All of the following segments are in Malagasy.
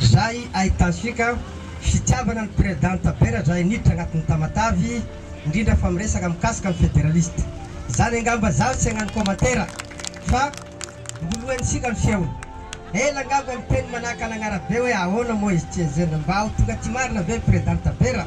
Zay ahitantsika fitiavana ny Presidente Bera zay niditra agnatin'ny Tamatave indrindra fa miresaka mikasika ny Federaliste. Zany angamba zaho tsy agnano commentaire fa mbolohensika ny feony. Ela angamba miteny manahaka an'Agnarabe hoe ahoana moa izy tsy enjehina mba ho tonga aty marina ve ny Presidente Bera?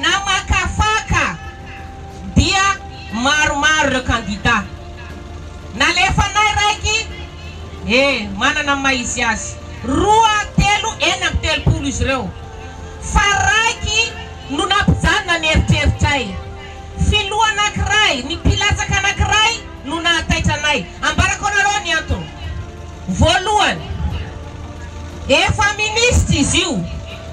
Namakafaka dia maromaro ireo kandida. Nalefanay raiky, e, manana ny maha izy azy, roa, telo, enina amby telopolo izy ireo, fa raiky no nampijanona ny eritreritray. Filoha anankiray, ny mpilatsaka anankiray no nahataitra anay. Ambarako anareo ny antony. Voalohany, efa minisitra izy io.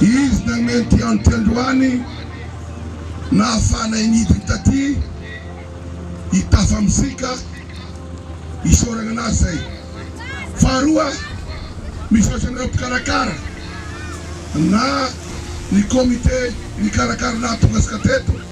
Izy nameno ity andro ity androany, nahafahanay nidina taty i Tafa Mozika isaorana anazy izay. Faharoa, misaotra anareo mpikarakara na ny comité nikarakara nahatonga atsika teto.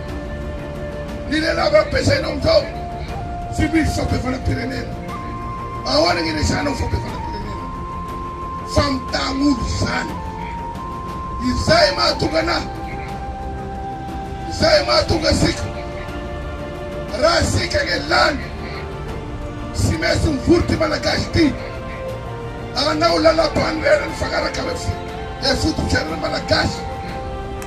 Ny lalàna ampiasainao amin'izao tsy misy fampihavanam-pirenena. Ahoana ny iresahanao fampihavanam-pirenena? Famitaham-olo izany. Izay mahatonga anah, izay mahatonga asika. Raha asika anie lany, tsy maintsy mivory ity Malagasy ity hanao lalàmpanorenana mifanaraka amin'ny fifototra iainana Malagasy.